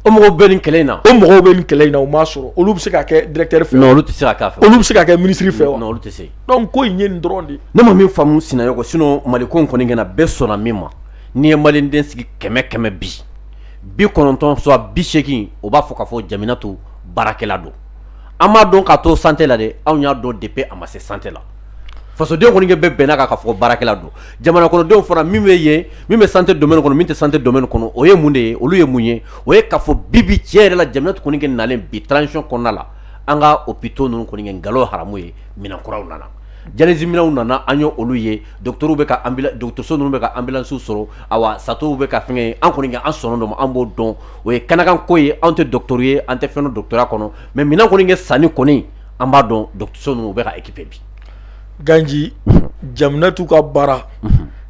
o mɔgɔw bɛ nin kɛlɛ in na o mɔgɔw bɛ nin kɛlɛ in na o m'a sɔrɔ olu bɛ se ka kɛ directeur fɛ non olu tɛ se ka k'a fɛ olu bɛ se ka kɛ ministre fɛ olu tɛ se donc ko in ye nin dɔrɔn de ne ma min faamumu sinayogo sinon mali ko kɔni kɛ bɛɛ sɔnna min ma n'i ye mali den sigi kɛmɛ kɛmɛ bi bi kɔnɔntɔn soit bi seegin o b'a fɔ k'a fɔ Djaminatou baarakɛla don an m'a dɔn ka to santé la dɛ anw y'a dɔn depuis a ma se santé la fasodenw kɔni bɛɛ bɛnna kan k'a fɔ baarakɛla don jamana kɔnɔdenw fana min bɛ yen min bɛ santé domaine kɔnɔ min tɛ santé domaine kɔnɔ o ye mun de ye olu ye mun ye o ye k'a fɔ bibi tiɲɛ yɛrɛ la Djaminatou kɔni kɛ nalen bi transition kɔnɔna la an ka hôpitaux ninnu kɔni kɛ nkalon haramu ye minɛn kuraw nana dialyse minɛnw nana an y'olu ye docteur bɛ dɔgɔtɔrɔso ninnu bɛ ka anbilansiw sɔrɔ awa satow bɛ ka fɛn ye an kɔni an sɔn dɔn an b'o dɔn o ye kɛnɛkanko ye anw tɛ docteur ye an tɛ fɛn dɔn dɔgɔtɔrɔya kɔnɔ mais minɛn kɔni kɛ sanni kɔni an b'a dɔn dɔgɔtɔrɔso ninnu u bɛ ka équiper bi Ganji Djaminatou ka baara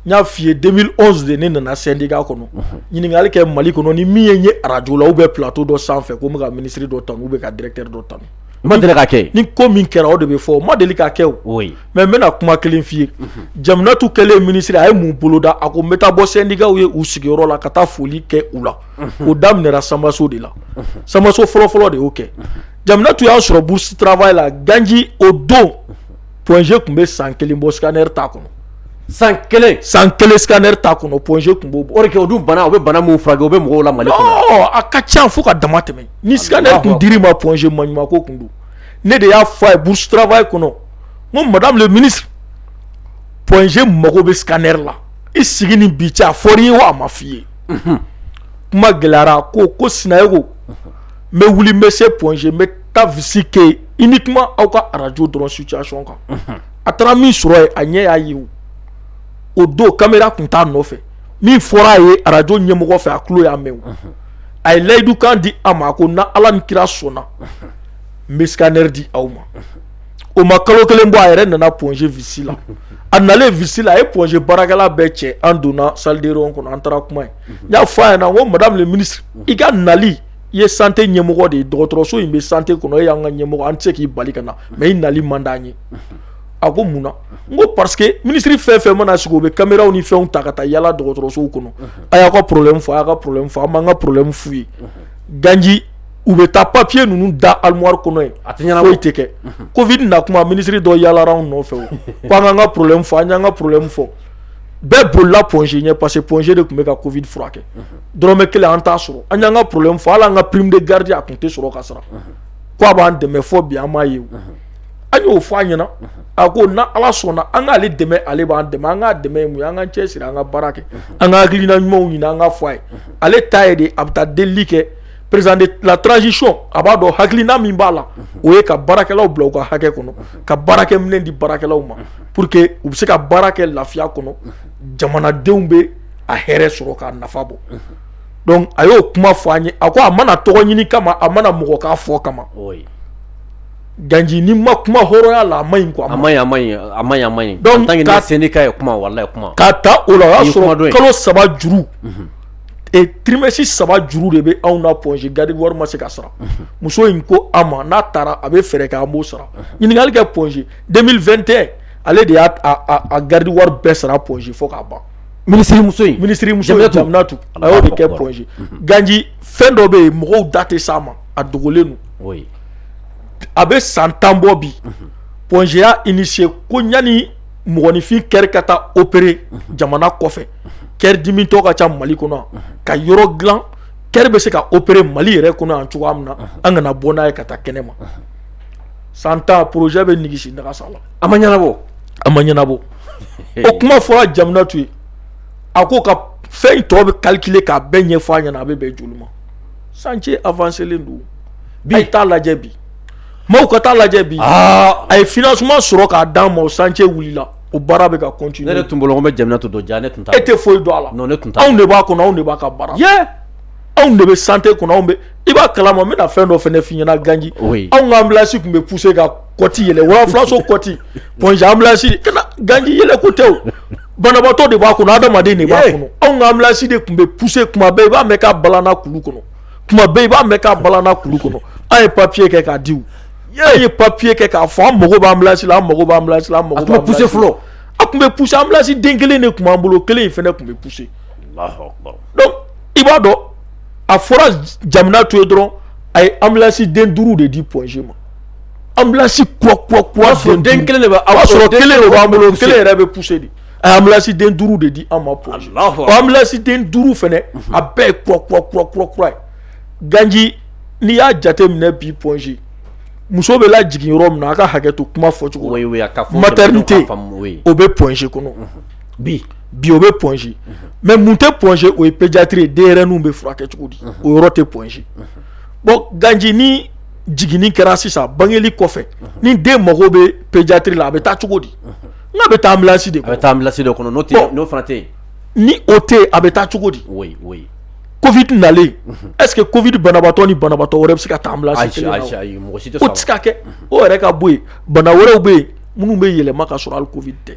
n y'a f'i ye 2011 de ne nana syndicat kɔnɔ ɲininkali kɛ Mali kɔnɔ ni min ye n ye arajo la ou bien plateau dɔ sanfɛ ko n bɛ ka ministre dɔ tanu ou bien ka directeur dɔ tanu o ma deli ka kɛ yen ni ko min kɛra o de bɛ fɔ o ma deli ka kɛ o oui mais n bɛna kuma kelen f'i ye Djaminatou kɛlen ministre a ye mun boloda a ko n bɛ taa bɔ syndicatw ye u sigiyɔrɔ la ka taa foli kɛ u la o daminɛra sanbaso de la sanbaso fɔlɔ-fɔlɔ de y'o kɛ Djaminatou y'an sɔrɔ bourse travail la ganji o don Point G tun bɛ san kelen bɔ scanner t'a kɔnɔ san kelen san kelen scanner t'a kɔnɔ Point G tun b'o bɔ o de kɛ o dun bana o bɛ bana minnu furakɛ o bɛ mɔgɔw la mali kɔnɔ a ka ca fo ka dama tɛmɛ ni scanner tun dir'i ma Point G maɲuman ko tun don ne de y'a fɔ a ye bourse travail kɔnɔ n ko madame le ministre Point G mago bɛ scanner la i sigi ni bi cɛ a fɔr'i ye wa a ma f'i ye kuma gɛlɛyara ko ko sinayogo n bɛ wuli n bɛ se Point G n bɛ taa visite kɛ uniquement aw ka arajo dɔrɔn situation kan a taara min sɔrɔ yen a ɲɛ y'a ye o don caméra tun t'a nɔfɛ min fɔra a ye arajo ɲɛmɔgɔ fɛ a tulo y'a mɛn a ye layidu kan di a ma ko na ala ni kira sɔnna n bɛ scanner di aw ma o ma kalo kelen bɔ a yɛrɛ nana Point G visite la a nalen visite la a ye Point G baarakɛla bɛɛ cɛ an donna salle de réunion kɔnɔ an taara kuma ye n y'a fɔ a ɲɛna ko madame le ministre i ka nali i ye sante ɲɛmɔgɔ de ye dɔgɔtɔrɔso in bɛ sante kɔnɔ e y'an ka ɲɛmɔgɔ an tɛ se k'i bali ka na mais i nali man d'an ye a ko mun na n ko parce que minisiri fɛn fɛn mana sigi u bɛ caméraw ni fɛnw ta ka taa yaala dɔgɔtɔrɔsow kɔnɔ a y'aw ka porolen fɔ a y'a ka problème fɔ an b'an ka problème f'u ye ganji u bɛ taa papiye ninnu da armoire kɔnɔ yen foyi tɛ kɛ Covid na kuma minisiri dɔ yaalala anw nɔfɛ k'an k'an ka problème fɔ an y'an ka problème fɔ bɛɛ bolila Point G ɲɛ parce que Point G de tun bɛ ka Covid furakɛ dɔrɔmɛ kelen an t'a sɔrɔ an y'an ka problème fɔ hali an ka prime de garde a tun tɛ sɔrɔ ka sara ko a b'an dɛmɛ fɔ bi an m'a ye o an y'o fɔ a ɲɛna a ko na ala sɔnna an k'ale dɛmɛ ale b'an dɛmɛ an k'a dɛmɛ ye mun ye an k'an cɛsiri an ka baara kɛ an ka hakilina ɲumanw ɲini an ka fɔ a ye ale ta ye de a bɛ taa delili kɛ président de la transition a b'a dɔn hakilina min b'a la o ye ka baarakɛlaw bila u ka hakɛ kɔnɔ ka baarakɛminɛn di baarakɛlaw ma pour que u bɛ se ka baara kɛ lafiya kɔnɔ jamanadenw bɛ a hɛrɛ sɔrɔ k'a nafa bɔ donc a y'o kuma fɔ an ye a ko a ma na tɔgɔ ɲini kama a ma na mɔgɔ k'a fɔ kama ganji n'i ma kuma hɔrɔnya la a man ɲi k'a ta o la o y'a sɔrɔ kalo saba juru trimestre saba juru de bɛ anw na Point G garde wari ma se ka sara muso in ko a ma n'a taara a bɛ fɛɛrɛ kɛ an b'o sara ɲininkakali kɛ Point G 2021 ale de y'a garde wari bɛɛ sara Point G fo k'a ban minisirimuso in minisirimuso Jamilato Jaminatu a y'o de kɛ Allahu Point G ganji fɛn dɔ bɛ yen mɔgɔw da tɛ s'a ma a dogolen don oui a bɛ san tan bɔ bi Point G y'a initier ko yanni mɔgɔninfin kɛri ka taa opérer jamana kɔfɛ kɛri dimitɔ ka ca Mali kɔnɔ yan ka yɔrɔ dilan kɛri bɛ se ka opérer Mali yɛrɛ kɔnɔ yan cogoya min na an kana bɔ n'a ye ka taa kɛnɛma san tan projet bɛ nigisi nagasa la a ma ɲɛnabɔ a ma ɲɛnabɔ o kuma fɔra Jaminatu ye a ko ka fɛn in tɔ bɛɛ calculer k'a bɛɛ ɲɛfɔ a ɲɛna a bɛ bɛn joli ma chantier avancélen don bi a ye t'a lajɛ bi maaw ka taa lajɛ bi a ye financement sɔrɔ k'a d'an ma o chantier wulila o baara bɛ ka continuer ne tun bolo n bɛ Jaminatu dɔn ja ne tun e tɛ foyi dɔn a la ne tun anw de b'a kɔnɔ anw de b'a ka baara anw de bɛ sante kɔnɔ anw bɛ i b'a kala ma n bɛna fɛn dɔ fana f'i ɲɛna ganji anw ka ambulance tun bɛ pousser ka kɔti yɛlɛ wafilaso kɔti Point G ambulance ka ganji yɛlɛko tɛ banabaatɔ de b'a kɔnɔ adamaden de b'a kɔnɔ anw ka ambulance de tun bɛ pousser kuma bɛɛ i b'a mɛn k'a balanna kulu kɔnɔ kuma bɛɛ i b'a mɛn k'a balanna kulu kɔnɔ an ye papiye kɛ k'a di an ye papiye kɛ k'a fɔ an mago b'ambulance la an mago b'ambulance la an mako parce que fɔlɔ a tun bɛ pousser ambulance den kelen de tun b'an bolo kelen in fana tun bɛ pousser i b'a dɔn a fɔra Jaminatu ye dɔrɔn a ye ambulance den duuru de di Point G ma ambulance kura den kelen de b'a sɔrɔ kelen de b'an bolo kelen yɛrɛ bɛ pousser dɛ a ye ambulance den duuru de di an ma Point G o ambulance den duuru fana a bɛɛ ye kura ye ganji n'i y'a jate minɛ bi Point G muso bɛ lajigin yɔrɔ min na a ka hakɛ to kuma fɔcogo maternité o bɛ Point G kɔnɔ bi bi o bɛ Point G mais mun tɛ Point G o ye pédiatrie ye denyɛrɛninw bɛ furakɛ cogo di o yɔrɔ tɛ Point G bon ganji ni jiginni kɛra sisan bangeli kɔfɛ ni den mago bɛ pédiatrie la a bɛ taa cogo di a bɛ taa ambulance de a bɛ taa ambulance de kɔnɔ n'o fana tɛ ni o tɛ a bɛ taa cogo di covid nalen est-ce que covid banabaatɔ ni banabaatɔ wɛrɛ bɛ se ka taa ambulance kelen na o tɛ se ka kɛ o yɛrɛ ka bɔ yen bana wɛrɛw bɛ yen minnu bɛ yɛlɛma ka sɔrɔ hali covid tɛ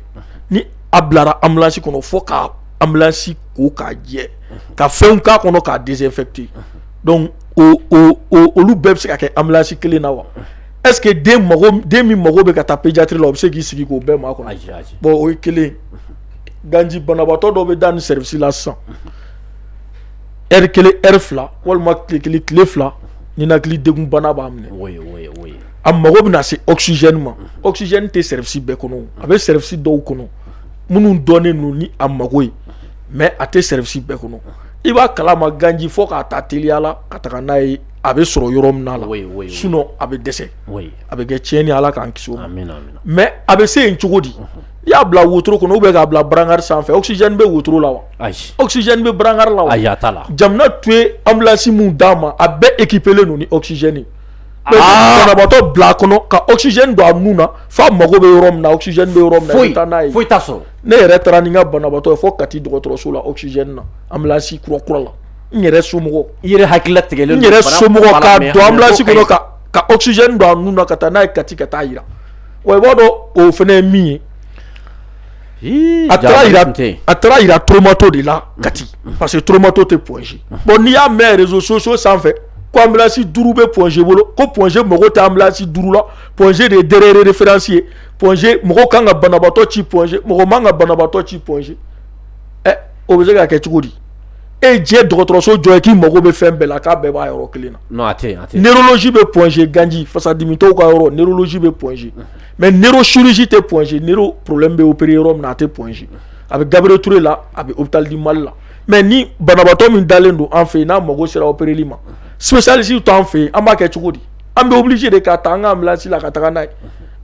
a bilara ambulance kɔnɔ fo ka ambulance ko k'a jɛ ka fɛn k'a kɔnɔ k'a désinfecter donc olu bɛɛ bɛ se ka kɛ ambulance kelen na wa est-ce que den min mago bɛ ka taa pédiatrie la o bɛ se k'i sigi k'o bɛɛ makɔnɔ bon o ye kelen ganji banabaatɔ dɔ bɛ da nin service la sisan heure kelen heure fila walima tile kelen tile fila ninakilidegun bana b'a minɛ a mago bɛna se oxygène ma oxygène tɛ service bɛɛ kɔnɔ a bɛ service dɔw kɔnɔ minnu dɔnnen don ni a mago ye mais a tɛ service bɛɛ kɔnɔ i b'a kala ma ganji fo k'a ta teliya la ka taga n'a ye a bɛ sɔrɔ yɔrɔ min la sinon a bɛ dɛsɛ a bɛ kɛ tiɲɛni Ala k'an kisi o ma mais a bɛ se yen cogo di i y'a bila wotoro kɔnɔ ou bien k'a bila brancard sanfɛ oxygène bɛ wotoro la wa oxygène bɛ brancard la wa Jaminatu ye ambulance min d'an ma a bɛɛ équipélen don ni oxygène banabaatɔ bila a kɔnɔ ka oxygène don a nun na f'a mago bɛ yɔrɔ min na oxygène bɛ yɔrɔ min i bɛ taa n'a ye foyi t'a sɔrɔ ne yɛrɛ taara ni n ka banabaatɔ ye fo Kati dɔgɔtɔrɔso la oxygène na ambulance kura kura la n yɛrɛ somɔgɔ i yɛrɛ hakili latigɛ n yɛrɛ somɔgɔ ambulance kɔnɔ ka oxygène don a nun na ka taa n'a ye Kati ka taa a jira wa i b'a dɔn o fana ye min ye atɔmatɔ de la ka parce que toromatɔ tɛ pɔsi bɔn n'i y'a mɛn soso sanfɛ kosi duuru bɛ pɔsi bolo ko pɔsi mɔgɔ tɛsi duuru la pɔsi de ye de fsi ye pɔsi mɔgɔ kan ka banabatɔ ci pɔsi mɔgɔ man ka banabatɔ ci pɔsi ɛ o bɛ se ka kɛ cogo di e diɲɛ dɔgɔtɔrɔso jɔ ye k'i mago bɛ fɛn bɛɛ la k'a bɛɛ b'a yɔrɔ kelen na bɛsi bɛ pɔsi ganji fasadimi ka yɔrɔsi bɛ pɔsi mais neurochirurgie tɛ Point G neuro problème bɛ opérer yɔrɔ min na a tɛ Point G a bɛ Gabriel Touré la a bɛ hôpital du Mali la mais ni banabaatɔ min dalen don an fɛ yen n'a mago sera opereli ma spécialiste t'an fɛ yen an b'a kɛ cogo di an bɛ obligé de k'a ta an ka ambulance la ka taga n'a ye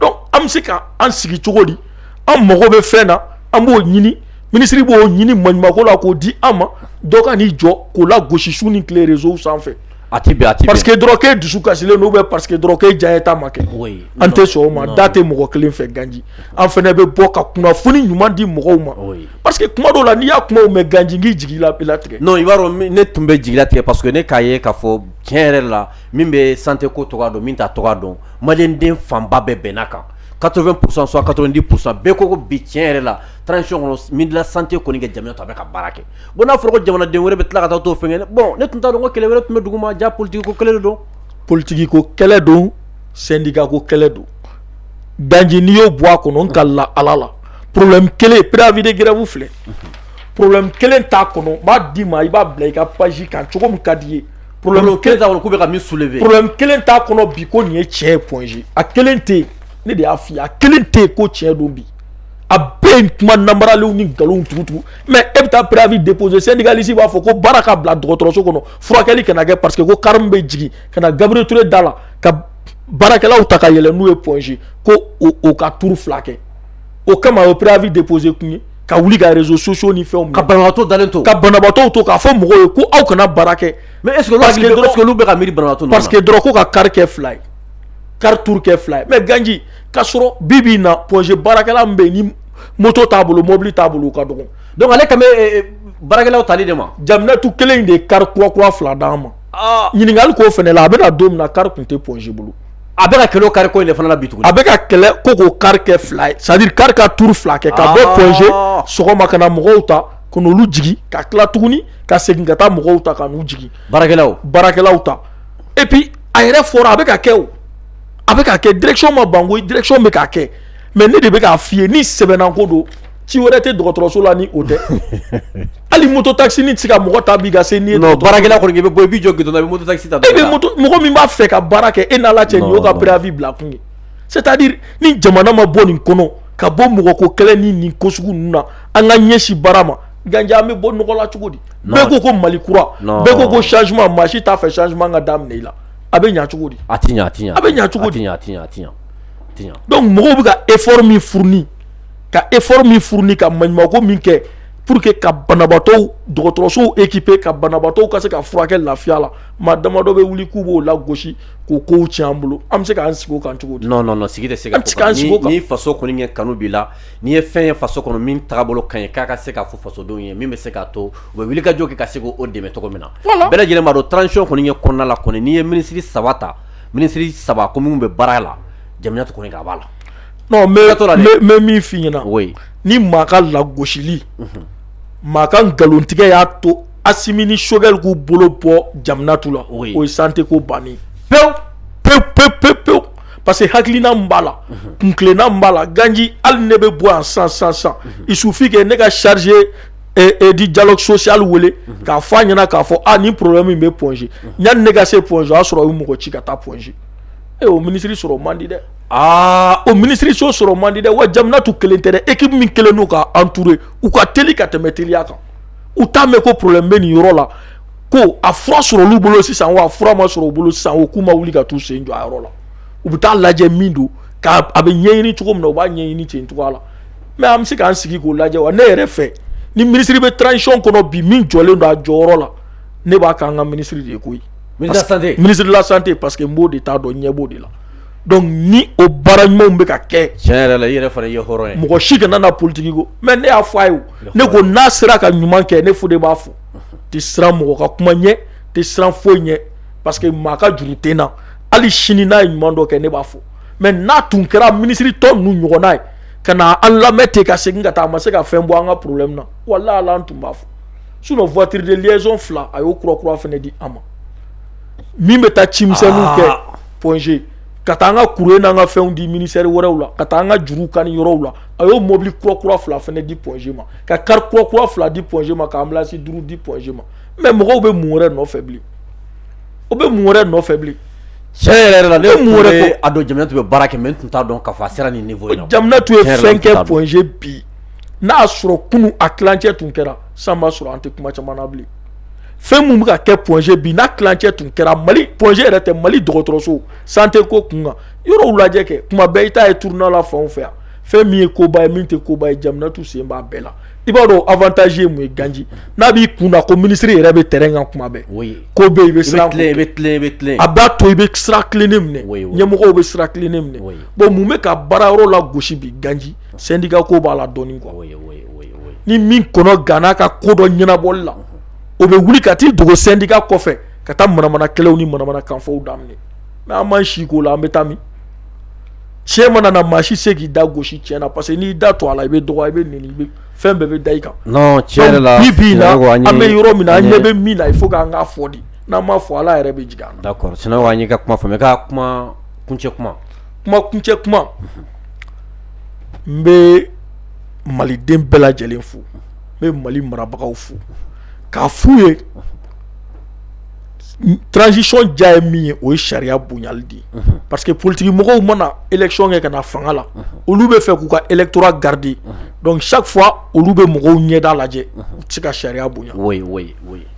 donc an bɛ se ka an sigi cogo di an mago bɛ fɛn na an b'o ɲini ministre b'o ɲini maɲumako la k'o di an ma dɔ ka n'i jɔ k'o lagosi su ni tile réseaux sanfɛ A tɛ bɛn a tɛ bɛn parce que dɔrɔn k'e dusu kasilen don ou bien parce que dɔrɔn k'e diyanye ta ma kɛ oui an tɛ sɔn o ma da tɛ mɔgɔ kelen fɛ ganji an fɛnɛ bɛ bɔ ka kunnafoni ɲuman di mɔgɔw ma oui parce que kuma dɔw la n'i y'a kumaw mɛn ganji n k'i jigi latigɛ non i b'a dɔn ne tun bɛ jigi latigɛ parce que ne k'a ye k'a fɔ tiɲɛ yɛrɛ la min bɛ santé ko cogoya dɔn min t'a cogoya dɔn maliyɛn den fanba bɛɛ bɛnn'a kan 80 pour cent soit 90 pour cent bɛɛ ko bi tiɲɛ yɛrɛ la transition kɔnɔ ministre de la santé kɔni ka jamu ye tan a bɛ ka baara kɛ bon n'a fɔra ko jamanaden wɛrɛ bɛ tila ka taa t'o fɛnkɛ bon ne tun t'a dɔn ko kɛlɛ wɛrɛ tun bɛ duguma jaa politigi ko kɛlɛ de don politigi ko kɛlɛ don sendika ko kɛlɛ don ganji n'i y'o bɔ a kɔnɔ n kalila ala la problème kelen préavis de grève filɛ problème kelen t'a kɔnɔ n b'a d'i ma i b'a bila i ka page kan cogo min ka d'i ye problème kelen k'u bɛ ka min soulever problème kelen t'a kɔnɔ bi ko nin ye tiɲɛ ye Point G a kelen tɛ yen ne de y'a f'i ye a kelen tɛ yen ko tiɲɛ don bi a bɛɛ ye kuma namaralenw ni nkalon tugutugu mais e bɛ taa préavis déposer syndicaliste b'a fɔ ko baara ka bila dɔgɔtɔrɔso kɔnɔ furakɛli kana kɛ parce que ko kari min bɛ jigin ka na Gabriel Touré da la ka baarakɛlaw ta ka yɛlɛ n'u ye Point G ko o ka tuuru fila kɛ o kama o préavis déposer kun ye ka wuli ka réseaux sociaux ni fɛn ka banabagatɔ dalen to ka banabagatɔ to k'a fɔ mɔgɔw ye ko aw kana baara kɛ mais est-ce que olu bɛ ka miiri banabaatɔ parce que dɔrɔn ko ka kari kɛ fila ye kari tuuru kɛ fila ye mais ganji k'a sɔrɔ bi bi in na Point G baarakɛla min bɛ yen ni moto t'a bolo mɔbili t'a bolo o ka dɔgɔ donc ale kan bɛ baarakɛlaw tali de ma Jaminatu kelen in de ye kari kura kura fila d'an ma ɲininkali k'o fɛnɛ la a bɛna don min na kari tun tɛ Point G bolo a bɛ ka kɛlɛ o kari ko in de fana la bi tuguni a bɛ ka kɛlɛ ko k'o kari kɛ fila ye c'est-à-dire kari ka tuuru fila kɛ ka bɔ Point G sɔgɔma ka na mɔgɔw ta ka n'olu jigin ka tila tuguni ka segin ka taa mɔgɔw ta ka n'u jigin baarakɛlaw baarakɛlaw ta et puis a yɛrɛ fɔra a bɛ ka kɛ a bɛ ka kɛ direction ma ban koyi direction bɛ ka kɛ mais ne de bɛ k'a f'i ye ni sɛbɛnna ko don ci wɛrɛ tɛ dɔgɔtɔrɔso la ni o tɛ hali moto taxi nin tɛ se ka mɔgɔ ta bi ka se i bɛ bɔ i b'i jɔ mɔgɔ min b'a fɛ ka baara kɛ e n'Ala cɛ nin y'o ka préavis bila kun ye c'est-à-dire ni jamana ma bɔ nin kɔnɔ ka bɔ mɔgɔ ko kɛlɛ ni nin ko sugu ninnu na an ka ɲɛsin baara ma ganji an bɛ bɔ nɔgɔ la cogo di bɛɛ ko ko mali kura bɛɛ ko ko changement maa si t'a fɛ changement ka daminɛ i la a bɛ ɲɛ cogo di a tɛ ɲɛ a tɛ ɲɛ a bɛ ɲɛ cogo di a tɛ ɲɛ a tɛ ɲɛ a tɛ ɲɛ donc mɔgɔw bɛ ka effort min fourni ka effort min fourni ka maɲumanko min kɛ pour que ka banabaatɔw dɔgɔtɔrɔsow équiper ka banabaatɔw ka se ka furakɛ lafiya la maa damadɔ bɛ wuli k'u b'o lagosi k'o kow tiɲɛ an bolo an bɛ se k'an sigi o kan cogo di non non non sigi tɛ se ka k'o kan ni faso kɔni ɲɛ kanu b'i la N'i ye fɛn ye faso kɔnɔ min tagabolo ka ɲi k'a ka se k'a fɔ fasodenw ye min bɛ se k'a to u bɛ wuli ka jɔ kɛ ka se k'o dɛmɛ cogo min na bɛɛ lajɛlen b'a dɔn transition kɔni ye kɔnɔna la kɔni n'i ye minisiri saba ta minisiri saba ko minnu bɛ baara la jamanatu kɔni k'a b'a la n bɛ min f'i ɲɛna o ye ni maa ka lagosili maa ka nkalontigɛ y'a to Assimi ni Choguel k'u bolo bɔ jamanatu la o ye santé ko bannen pewu pe pe pe pewu Parce que hakilina min b'a la kuntilenna min b'a la ganji hali ne bɛ bɔ yan sisan il suffit que ne ka chargé de dialogue social wele k'a fɔ a ɲɛna k'a fɔ a ni problème min bɛ Point G yanni ne ka se Point G o y'a sɔrɔ u ye mɔgɔ ci ka taa Point G o minisiri sɔrɔ man di dɛ aa o minisiririso sɔrɔ man di dɛ wa jamanatu kelen tɛ dɛ équipe min kɛlen don k'a entourer u ka teli ka tɛmɛ teliya kan u t'a mɛn ko problème bɛ nin yɔrɔ la ko a fura sɔrɔ olu bolo sisan wa a fura ma sɔrɔ u bolo sisan o k'u ma wuli ka t'u sen jɔ a yɔrɔ la u bɛ taa lajɛ min don k'a a bɛ ɲɛɲini cogo min na u b'a ɲɛɲini ten cogoya la mais an bɛ se k'an sigi k'o lajɛ wa ne yɛrɛ fɛ ni minisiri bɛ transition kɔnɔ bi min jɔlen don a jɔyɔrɔ la ne b'a k'an ka minisiri de ye koyi ministre de la santé parce que n b'o de ta dɔn n ɲɛ b'o de la donc ni o baara ɲumanw bɛ ka kɛ tiɲɛ yɛrɛ la i yɛrɛ fana ye hɔrɔn ye mɔgɔ si kana na politiki ko mais ne y'a fɔ a ye ne ko n'a sera ka ɲuman kɛ ne Fode b'a fɔ tɛ siran mɔgɔ ka kuma ɲɛ tɛ siran foyi ɲɛ parce que maa ka juru tɛ n na hali sini n'a ye ɲuman dɔ kɛ ne b'a fɔ mais n'a tun kɛra minisiri tɔ ninnu ɲɔgɔnna ye ka na an lamɛn ten ka segin ka taa a ma se ka fɛn bɔ an ka problème na walayi ala an tun b'a fɔ sinon voiture de liaison fila a y'o kura kura fana di an ma min bɛ taa cimisɛnninw kɛ Point G ka taa an ka courrier n'an ka fɛnw di ministère wɛrɛw la ka taa an ka juru kani yɔrɔw la a y'o mɔbili kura kura fila fɛnɛ di point G ma ka kari kura kura fila di point G ma ka anbilansi duuru di point G ma mais mɔgɔw bɛ mun wɛrɛ nɔfɛ bilen o bɛ mun wɛrɛ nɔfɛ bilen tiɲɛ yɛrɛ yɛrɛ la ne mun wɛrɛ ko a dɔn Jamanatu bɛ baara kɛ mais n tun t'a dɔn k'a fɔ a sera nin niveau in na Jamanatu ye fɛn kɛ point G bi n'a y'a sɔrɔ kunu a tilancɛ tun kɛra san b'a sɔrɔ an tɛ kuma caman na bilen fɛn min bɛ ka kɛ point G bi n'a tilancɛ tun kɛra mali point G yɛrɛ tɛ mali dɔgɔtɔrɔso santé ko kun kan yɔrɔw lajɛ kɛ kuma bɛɛ i t'a ye tournée la fanw fɛ yan fɛn min ye koba ye min tɛ koba ye Jamanatu sen b'a bɛɛ la i b'a dɔn avantage ye mun ye ganji n'a b'i kun na ko minisiri yɛrɛ bɛ terrain kan kuma bɛɛ ko bɛ i bɛ siran a b'a to i bɛ sira tilennen minɛ ɲɛmɔgɔw bɛ sira tilennen minɛ bon mun bɛ ka baara yɔrɔ lagosi bi ganji syndicat ko b'a la dɔɔnin quoi ni min kɔnɔ ganna ka ko dɔ ɲɛnabɔli la o bɛ wuli ka t'i dogo syndicat kɔfɛ ka taa manamana kɛlɛw ni manamana kanfɔw daminɛ N'a ma si ko la an bɛ taa min tiɲɛ mana na maa si se k'i da gosi tiɲɛ na parce que n'i da to a la i bɛ dɔgɔya i bɛ nɛni fɛn bɛɛ bɛ da i kan tiɲɛ la an bɛ yɔrɔ min na an ɲɛ bɛ min na il faut k'an k'a fɔ de n'an m'a fɔ ala yɛrɛ bɛ jigin an na d'accord sinon an y'i ka kuma faamuya ka kuma kuncɛ kuma kuncɛ kuma n bɛ maliden bɛɛ lajɛlen fo n bɛ mali marabagaw fo k'a f'u ye transition diya ye min ye o ye sariya bonyali de ye parce que politique mɔgɔw mana élection kɛ ka na fanga la olu bɛ fɛ k'u ka électorat garder donc chaque fois olu bɛ mɔgɔw ɲɛda lajɛ u tɛ se ka sariya bonya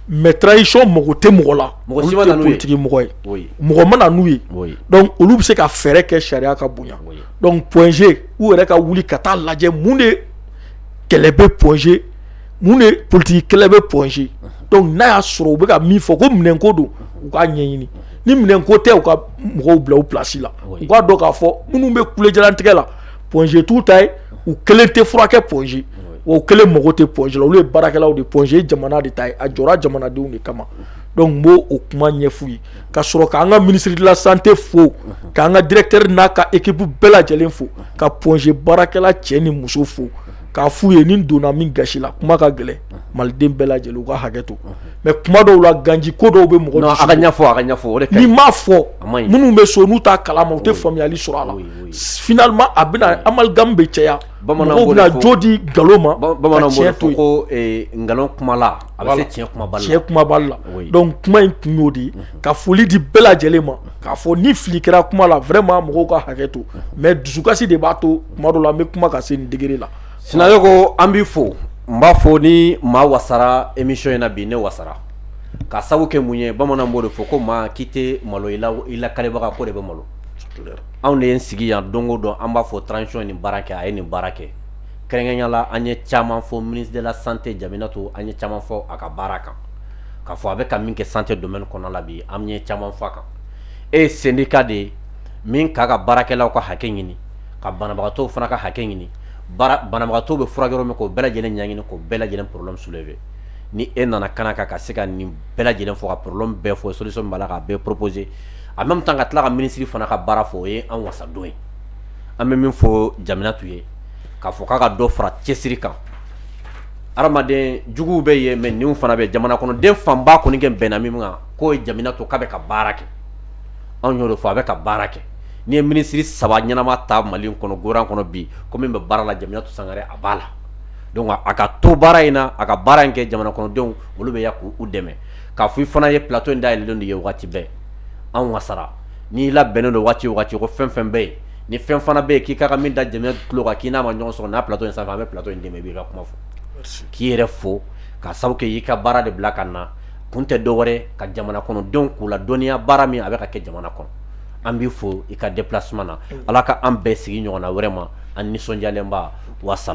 mais transition mago tɛ mɔgɔ la olu tɛ politique mɔgɔ ye mɔgɔ ma na n'u ye donc olu bɛ se ka fɛɛrɛ kɛ sariya ka bonya donc point G u yɛrɛ ka wuli ka taa lajɛ mun de kɛlɛ bɛ point G Mun de politique kɛlɛ bɛ point G donc n'a y'a sɔrɔ u bɛ ka min fɔ ko minɛn ko don u k'a ɲɛɲini ni minɛn ko tɛ u ka mɔgɔw bila u place la u k'a dɔn k'a fɔ minnu bɛ kulejalantigɛ la point G t'u ta ye u kelen tɛ furakɛ point G wa u kelen mago tɛ point G la olu ye baarakɛlaw de ye point G ye jamana de ta ye a jɔra jamanadenw de kama donc n b'o o kuma ɲɛf'u ye ka sɔrɔ k'an ka ministre de la santé fo k'an ka directeur n'a ka équipe bɛɛ lajɛlen fo ka point G baarakɛla cɛ ni muso fo k'a f'u ye ni n donna min gasi la kuma ka gɛlɛn maliden bɛɛ lajɛlen u ka hakɛ to mais kuma dɔw la ganji ko dɔw bɛ mɔgɔ a ka ɲɛfɔ a ka ɲɛfɔ n'i m'a fɔ minnu bɛ so n'u t'a kalama u tɛ faamuyali sɔrɔ a la finalement a bɛna amalgame bɛ caya mɔgɔw bɛna jo di nkalon ma ka tiɲɛ to yen ko nkalon kumala a bɛ se tiɲɛ kumabali la donc kuma in kun y'o de ka foli di bɛɛ lajɛlen ma k'a fɔ ni fili kɛra kuma la vraiment mɔgɔw ka hakɛ to mais dusukasi de b'a to tuma dɔw la an bɛ kuma ka se nin degré la Sinayoko an b'i fo n b'a fɔ ni maa wasara émission in na bi ne wasara ka sabu kɛ mun ye bamanan b'o de fɔ ko maa k'i tɛ malo i lakalibaga ko de bɛ malo anw de y'an sigi yan don o don an b'a fɔ transition ye nin baara kɛ a ye nin baara kɛ kɛrɛnkɛrɛnya la an ye caman fɔ ministre de la santé Jaminatu an ye caman fɔ a ka baara kan k'a fɔ a bɛ ka min kɛ santé domaine kɔnɔ la bi an ye caman fɔ a kan e syndicat de ye min k'a ka baarakɛlaw ka hakɛ ɲini ka banabagatɔ fana ka hakɛ ɲini banabagatɔ bɛ furakɛ yɔrɔ min k'o bɛɛ lajɛlen ɲɛɲini k'o bɛɛ lajɛlen problème soulever ni e nana ka na ka se ka nin bɛɛ lajɛlen fɔ ka problème bɛɛ fɔ solution b'a la k'a bɛɛ proposer en même temps ka tila ka minisiri fana ka baara fɔ o ye an wasa dɔ ye an bɛ min fɔ Jaminatu ye k'a fɔ k'a ka dɔ fara cɛsiri kan Adamaden juguw bɛ yen mais ninw fana bɛ yen, jamana kɔnɔden fanba kɔni kɛlen bɛnna min ma k'o ye Jaminatu k'a bɛ ka baara kɛ, anw y'o de fɔ, a bɛ ka baara kɛ, n'i ye minisiri saba ɲɛnama ta Mali in kɔnɔ gouvernement kɔnɔ bi ko min bɛ baara la Jaminatu Sangare a b'a la donc a ka to baara in na, a ka baara in kɛ jamana kɔnɔdenw olu bɛ yan k'u dɛmɛ k'a fɔ i fana ye plateau in dayɛlɛlen de ye waati bɛɛ, an wasara n'i labɛnnen don waati o waati ko fɛn o fɛn bɛ yen ni fɛn fana bɛ yen k'i ka min da jamana tulo kan k'i n'a ma ɲɔgɔn sɔrɔ n'a plateau in sanfɛ an bɛ plateau in d'i ma i b'i ka kuma fɔ k'i yɛrɛ fo ka sabu kɛ i ka baara de bila ka na kun tɛ dɔ wɛrɛ ka jamana kɔnɔdenw k'u ladɔnniya baara min a bɛ ka kɛ jamana kɔnɔ an b'i fo i ka déplacement na ala ka an bɛɛ sigi ɲɔgɔn na vraiment an nisɔndiyalenba wasa